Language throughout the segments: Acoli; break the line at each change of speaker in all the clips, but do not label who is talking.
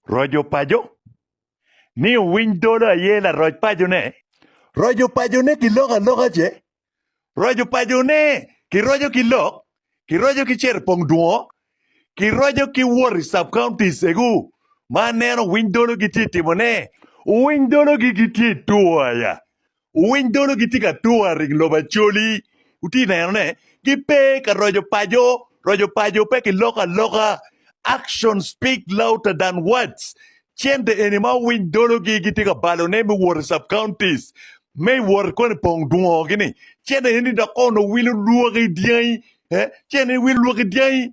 Roco paco ni owiny dolo aye laroc paco ne. Roco paco ne ki lok aloka ce. Roco paco ne ki roco ki lok, ki roco ki cero pong dwongo, ki roco ki wot i sub counties egu ma aneno owiny dolo gitye timo ne. Owiny dolo gi gitye two aya Wuwiny dolo gitye ka tur aring lobo Acholi, wutye neno ne, gipe ka roco paco, roco paco pe ki loko aloka. Action speak louder than words. Cente eni ma wuwiny dolo gi gitye ka balo ne me wot i sub counties, me wot koni pong dwongo gi ni, cente eni dok kono wilo lwaki dyangi, eh, cente eni wilo lwaki dyangi.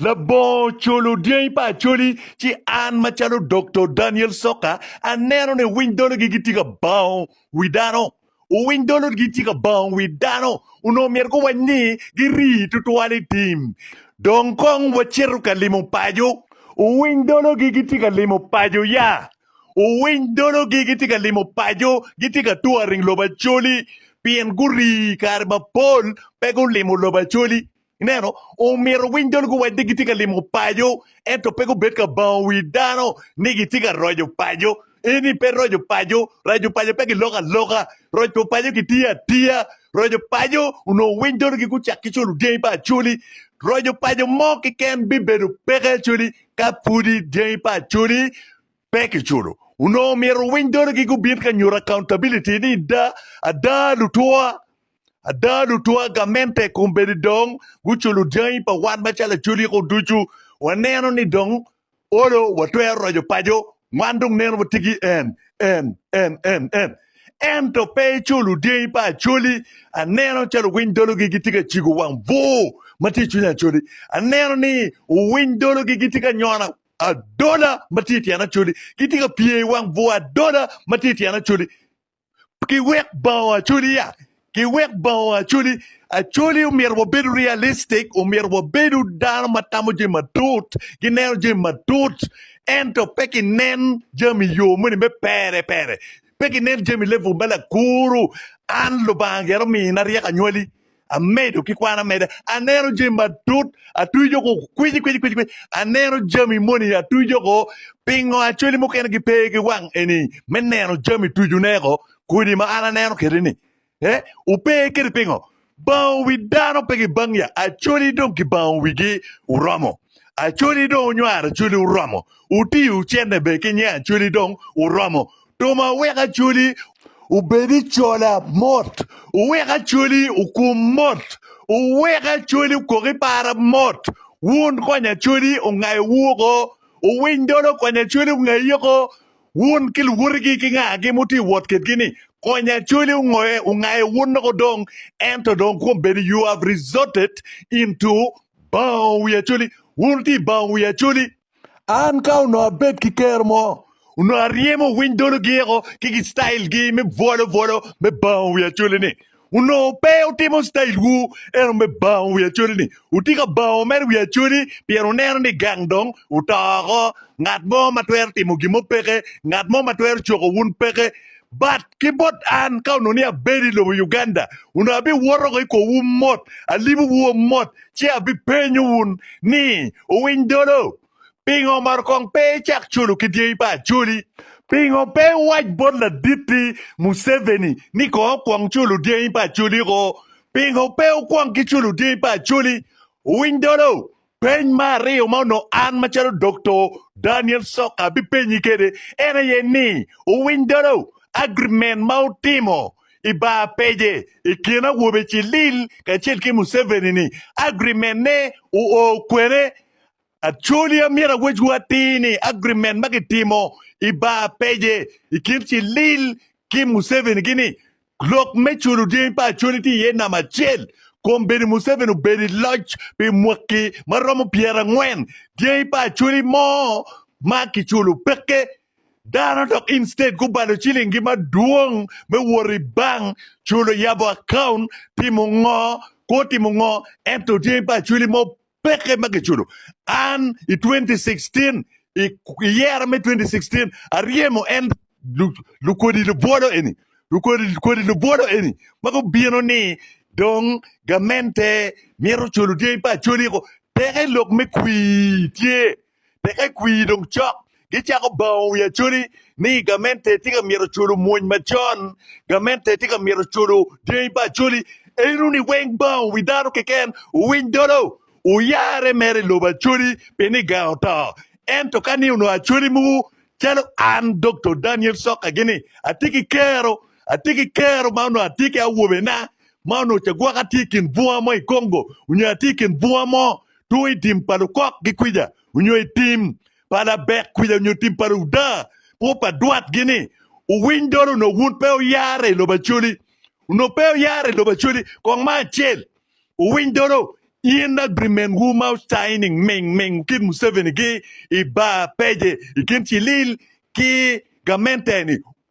Labongo culu dyangi pa Acholi ci an macalo Doktor Daniel Soka aneno ni owiny dologi gitye ka bango wi dano. Owiny dologi gitye ka bango wi dano onongo myero guwac ni giri tutwal i tim. Dong kong wacito ka limo paco. Owiny dologi gitye ka limo paco ya. Owiny dologi gitye ka limo paco gitye ka touring lobo Acholi pien guri kare mapol pe gulimo lobo Acholi. Ineno, omyero winy dol guwacde gitye ka limo paco, ento pe gubed ka bango wi dano ni gitye ka roco paco. Eni pe roco paco. Raco paco pe giloko aloka. Roco paco kitiyo atiya. Roco paco onongo winy dol-gi gucak ki culu dyangi pa Acholi. Roco paco mo keken bibedo peke Acholi ka pudi dyangi pa Acholi pe kiculo. Onongo myero winy dol-gi gubin ka nyuto accountability ni da, ada lutwa. Ada, lutwa gamente kombeddi dong guculo dyangi pa wan macalo aculiko ducu. Waneno ni dong olo watwero roco paco, wan dong neno watye ki en, en, en, en, en. Ento pe iculo dyangi pa Acholi. Aneno calo owiny dologi gitye ka cigo wang bur ma tye i cwiny Acholi. Aneno ni owiny dologi gitye ka nyono adola ma tye i tyen Acholi. Gitye ka pye i wang bur adola ma tye i tyen Acholi. ki wek bao acoli ya ki wek bao acoli acoli omyero wabedo realistic omyero wabedo dano ma tamo jami matut ki neno jami matut ento pe ki nen jami yo moni me pere pere pe ki nen jami level me lakuru an lubanga gero mina ryeko anywali Amedo ki kwano ameda, aneno jami matut, atwijo oko kwici kwici kwici kwici, aneno jami moni atwijo oko, pingo acwali mukene gipe ki wang eni me neno jami twijone oko, kodi ma an aneno kede ni, eh, ope kede pingo? Bango wi dano pe gibang ya, acwali dong kibango wigi oromo, acwali dong onywaro acwali oromo, otiyo cene be ki nyang acwali dong oromo, Roma wek acoli obed i cola mot, wek acoli okum mot, wek acoli okok i para mot. Wun kony acoli ongayo wu oko, owiny dolo kony acoli ongayi oko. Wun ki luwotigi ki ngagi ma wutye wot kitgi ni kony acoli ongoye ongayo wun oko dong, ento dong kwom bedo you have resorted into bango wi acoli, wun wutye i bango wi acoli. An ka onongo abed ki kero mo, onongo aryemo winy dolo giyeko ki gi style gi me bwolo bwolo me bango wi acholi ni. Onongo pe utimo style wu eno me bango wi acholi ni. Uti ka bango mere wi acholi pien uneno ni gang dong uto oko. Ngat mo ma twero timo gin mo peke, ngat mo ma twero coko wun peke. But ki bot an, ka onongo ni abedo i lobo Uganda, onongo abiwoto ko i korwu mot, alibowu wa mot, ci abipenyo wun ni, Owiny dolo, pingo omaro kong pe icak culo ki dyangi pa Acholi? Pingo pe iwac bot laditti Museveni ni kong okwong culo dyangi pa Acholi-ko? Pingo pe wukwong ki culo dyangi pa Acholi? Owiny dolo, Peny me aryo ma onongo an macalo Dokto Daniel Sok abipenyi kwede en aye ni, Wuwiny dolo agreement ma wutimo i bar page i kin awobe Cilil kacel ki Museveni ni? Agreement ne wuo kwene? Actually amyero awecwu atir ni agreement ma kitimo i bar page i kin Cilil ki Museveni gi ni Lok me culo dyangi pa Acholi tye iye namba acel kom bedo Museveni obedo i loc pi mwaki ma romo pyerangwen. Dyangi pa Acholi mo ma kiculo peke dano dok in state gubalo cilingi madwong me wot i bank, culo yabo account, timo ngo, kwo timo ngo ento dyangi pa Acholi mo Peke ma giculo. An i 2016, i i yera me 2016, aryemo en lu- lukodi lubwolo eni, lukodi kodi lubwolo eni ma gubino ni dong gamente mito culo dyangi pa acoli-ko. Peke lok me kwir tye. Teke kwir dong cok, gicako bango wi Acholi ni gamente tye ka myero oculo mwony macon, gamente tye ka myero oculo dyangi pa Acholi. Enoni weng bango wi dano keken owiny dolo, oyare mere i lobo Acholi pi niga oto. Ento ka ni onongo Acholi mogo calo an Doktor Daniel Soka gini atye ki kero, atye ki kero ma onongo atye ki awobena ma onongo cagwaka tye i kin bunga mo i Congo onyo atye i kin bunga mo two i tim pa lukok ki kwica onyo i tim pa labek kwica onyo tim pa ludaa po pa dwat gi ni owiny dolo onok wun pe oyare i lobo acoli onok pe oyare i lobo acoli kong ma acel owiny dolo in agreement wu ma signing ming ming kit museveni gi i bar peje i kin cilil ki gamente ni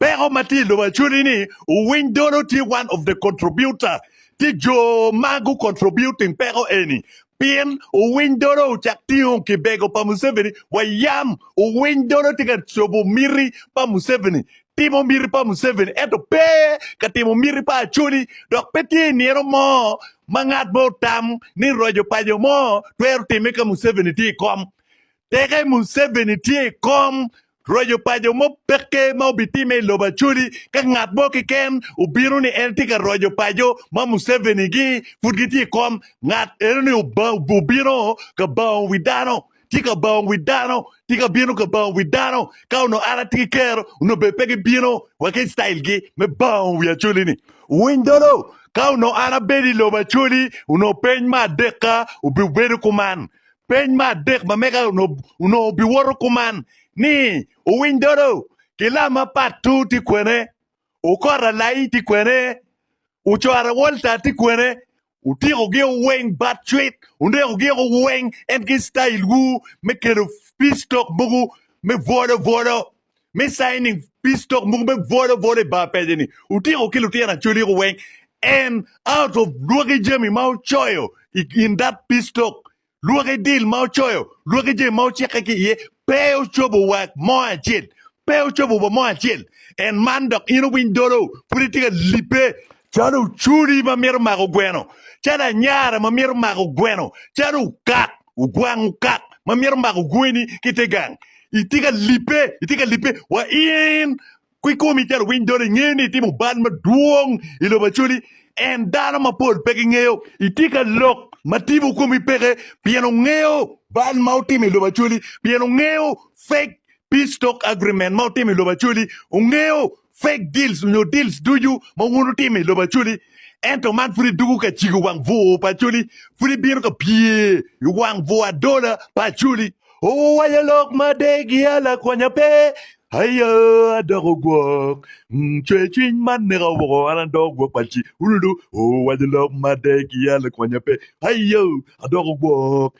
Peko ma tye i lobo actually ni owiny dolo tye one of the contributor tye jo ma gu contributing peko eni pien owiny dolo ocak tingo kibego pa Museveni wa yam owiny dolo tye ka cobo miti pa Museveni timo miti pa Museveni ento pe ka timo miti pa Acholi dok pe tye nino mo ma ngat mo otam ni roco paco mo twero time ka Museveni tye i kom Teke Museveni tye i kom roco pa jo mo peke ma obitimme i lobo Acholi ka ngat mo keken obino ni en tye ka roco pa jo ma Museveni gi pud gitye i kom ngat eno ni obino ka bango wi dano tye ka bango wi dano tye ka bino ka bango wi dano ka onongo an atye ki kero onongo bene pe gibino wa ki style gi me bango wi Acholi ni winy dolo ka onongo an abedo i lobo Acholi onongo peny ma adekka obibedo kuman Peny me adek ma mega onongo obiwoto kuman ni, Owiny dodo ki lam ma Patu tye kwene? Okora Lai tye kwene? Ocora Walter tye kwene? Utyeko gi oweng bat cwit, uneko gi oweng en ki style wu me kelo peace talk mogo me bwolo bwolo. me signing peace talk muku me bwola bwola i bar pede ni utiko ki lutino acholi ko weng and out of lwaki jami ma ucoyo i- in that peace talk lwaki deal ma ucoyo lwaki jami ma ucikke ki iye pe ucobo wa mo acel pe ucobo wa mo acel and man dok in uwiny dolo pud itye ka lipe calo oculi ma mito mako gweno calo anyara ma mito mako gweno calo ukat ogwango kak ma myero omako gweni ki ite gang, itye ka lipe, itye ka lipe wa in kikomi calo owiny dolo ingeyo ni itimo bal madwong i lobo Acholi en dano mapol pe gingeyo, itye ka lok ma tipo komi peke pien ongeyo bal ma wutimo i lobo Acholi, pien ongeyo fake peace talk agreement ma wutimo i lobo Acholi, ongeyo fake deals onyo deals ducu ma wun wutimo i lobo Acholi ento man pud idoko ka cigo wang bur pa Acholi pud ibino ka pye i wang bur adola pa Acholi. Owaco lok ma degia lakwonya pe Aye adoko gwok Cwer cwiny ma neka woko an adoko gwok pa ci Ululu Owaco lok ma degia lakwonya pe Aye adoko gwok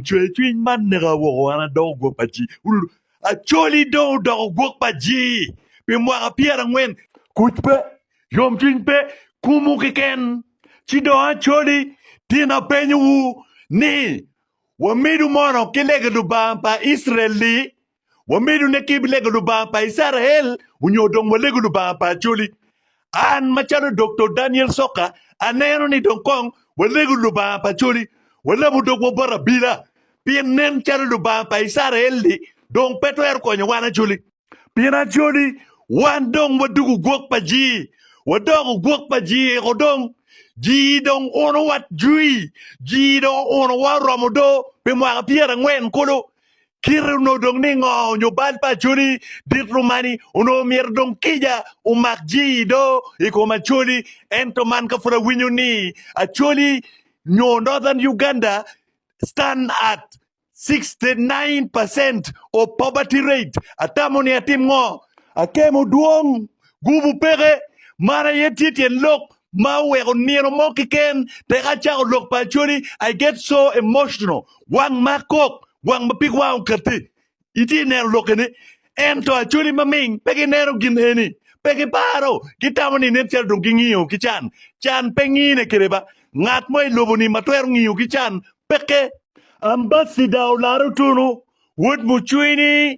Cwer cwiny ma neka woko an adoko gwok pa ci Ululu Acholi dong odoko gwok pa jii pi mwaka pyerangwen. Kuc pe, yomcwiny pe, kumwu keken. Ci dong Acholi, tin apenyowu ni, wamidu mono ki lege Lubanga pa Icrael li? Wamidu ne ki lege Lubanga pa Icrael onyo dong walegu Lubanga pa Acholi? An macalo Doktor Daniel Soka aneno ni dong kong walego Lubanga pa coli, walabo dogwa bot abila, pien nen calo Lubanga pa Icrael-li dong pe twero konyo wan acoli. Pien acoli wan dong wadugo gwok pa jii, wadoko gwok pa jii-eko dong, jii dong uno watjui, jii dong unowa oromo do pi mwaka pyerangwen kulu, Kite onongo dong ningo nyo bal pa Acholi dit rumani onongo myero dong kica omak jii do i kom Acholi ento man ka pud awinyo ni Acholi nyo Northern Uganda stand at 69 percent of poverty rate atamo ni atim ngo? Akemo dwong, gubu peke, man aye tye tyen lok ma oweko nino mo keken peke acako lok pa Acholi, I get so emotional, wang ma kok, wang ma pig wang okatti, itye neno lokke ni, ento Acholi ma ming pe gineno gin eni, pe giparo, gitamo ni nen calo dong gingiyo ki can, can pe ngine kede ba, ngat mo i lobo ni ma twero ngiyo ki can peke. Ambassador olaro tunu, wod mucwini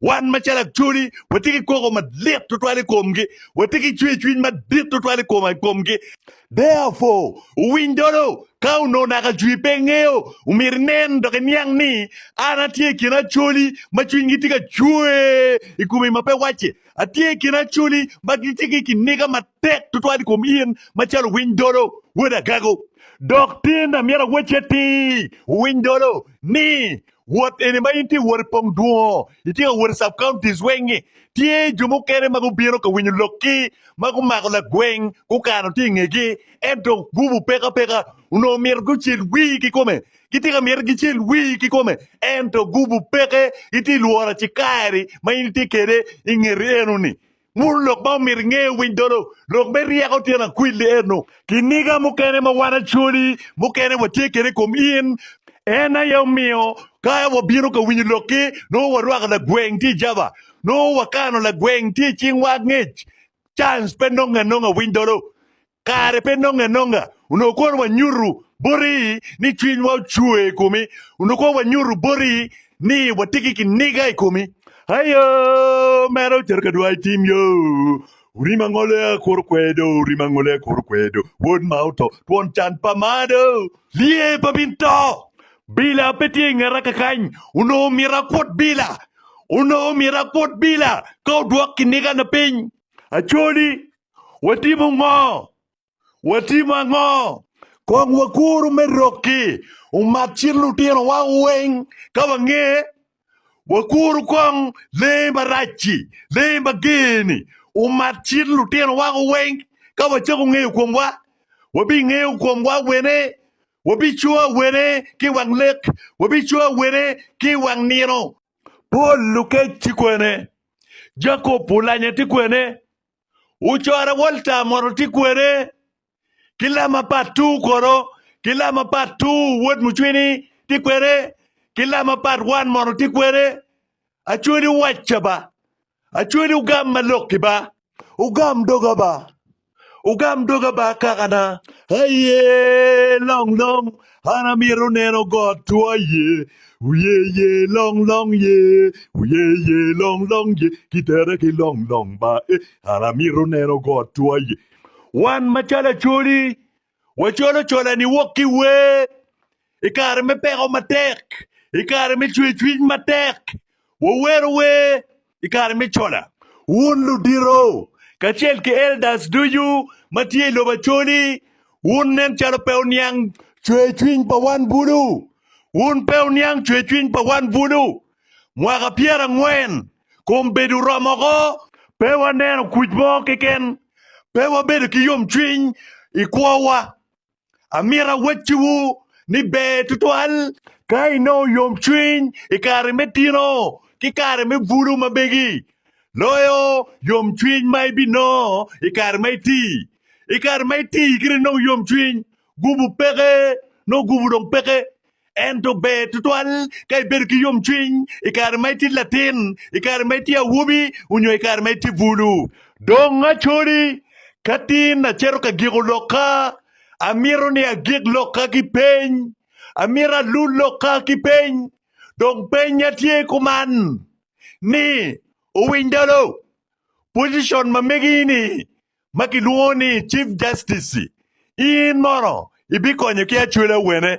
Wan macalo Acholi watye ki koko madit tutwal i komgi, watye ki cwercwiny madit tutwal i kom- i komgi. Therefore, wuwiny dolo, ka onongo naka Acwi pe ingeyo, omyero inen dok iniang ni an atye i kin Acholi ma cwinygi tye ka cwer i komi ma pe wacce. Atye i kin Acholi ma gitye ki kiniga matek tutwal i kom in macalo owiny dolo, wod agago. Dok tinda myero awacci atir, wuwiny dolo, ni Wot eni ma in tye wot i pong dwongo, itye ka wot i sub counties weng-ngi. Tye jo mukene ma gubino ka winyo lokki ma gumako lagweng gukano tye i ngegi, ento gubu peka peka onongo myero gucel wii ki kome. Gitye ka myero gicel wii ki kome, ento gubu peke gitye lworo acikari ma in itye kede i ngeti eno-ni. Muru lok ma omyero inge owiny dolo. Lok me ryeko tyen akwili eno. Kiniga mukene ma wan acoli mukene watye kede i kom in, en aye omiyo ka wabino ka winyo lokki, nongo warwako lagweng tye i jaba, nongo wakano lagweng tye i cingwa angec. Cains pe nonge anonga winy dolo. Kare pe nonge anonga, onongo kono wanyuto boti ni cwinywa ocwer i komi, onongo kono wanyuto boti ni watye ki kiniga i komi. Ayo, mere ocito ka dwai tim yo, orim angole a kuru kwedo, orim angole a kuru kwedo, wod ma oto, twon can pa malo, lye pa min to, bila pe tye i ngeta kakany, onongo omyero akut bila, onongo omyero akut bila ka odwok kinigana piny. Acholi, Watimo ngo? Watimo ango? Kong wakuru me rokki umak cit lutinowa weng ka wange. Wakuru kong lee marac-ci, lee mager-ni, umak cit lutinowa weng ka wacako ngeyo komwa. Wabingeyo komwa wene? Wabicowa wene ki i wang lek? Wabicowa wene ki i wang nino? Pol lukec ti kwene? Jakop olanya ti kwene? Ocorre Walter moto tye kwede ki lama pat two kono ki lama pat two wod mucwini tye kwede ki lama pat one moto tye kwede Acwedi owacca ba Acwedi ogam ma lokki ba Ogam doga ba Ogam doga ba kakana Aye long long An amito neno got twa ye, wiye ye long long ye, wiye ye long long ye, kitere ki long long ba e. An amito neno got twa ye. Wan macalo acoli, wacolo cola ni wok ki wer i kare me peko matek, i kare me cwecwic matek, wawero wer i kare me cola. Wun ludito kacel ki elders ducu ma tye i lobo Acholi, wun nen calo pe wuniang cwercwiny pa wan bulu. Wun pe wuniang cwercwiny pa wan bulu. Mwaka pyerangwen kun bedo oromo oko. Pe waneno kuc mo keken. Pe wabedo ki yomcwiny i kwowa. Amito awacciwu ni ber tutwal ka inongo yomcwiny i kare me tino ki kare me bulu ma megi, loyo yomcwiny ma ibinongo i kare ma iti. I kare ma iti kit inongo yomcwiny, gubu peke, nongo gubu dong peke. Ento ber tutwal ka ibedo ki yomcwiny i kare ma itye latin, i kare ma itye awobi, onyo i kare ma itye bulu. Dong acoli, ka tin acito ka giko lokka, amito ni agik lokka ki peny. Amito alul lokka ki peny. Dong pennya tye kuman ni, Owiny Dolo, pocicon ma megi-ni ma kilwongo ni Chief Justice-ci, in mono ibikonyo ki acwela wene?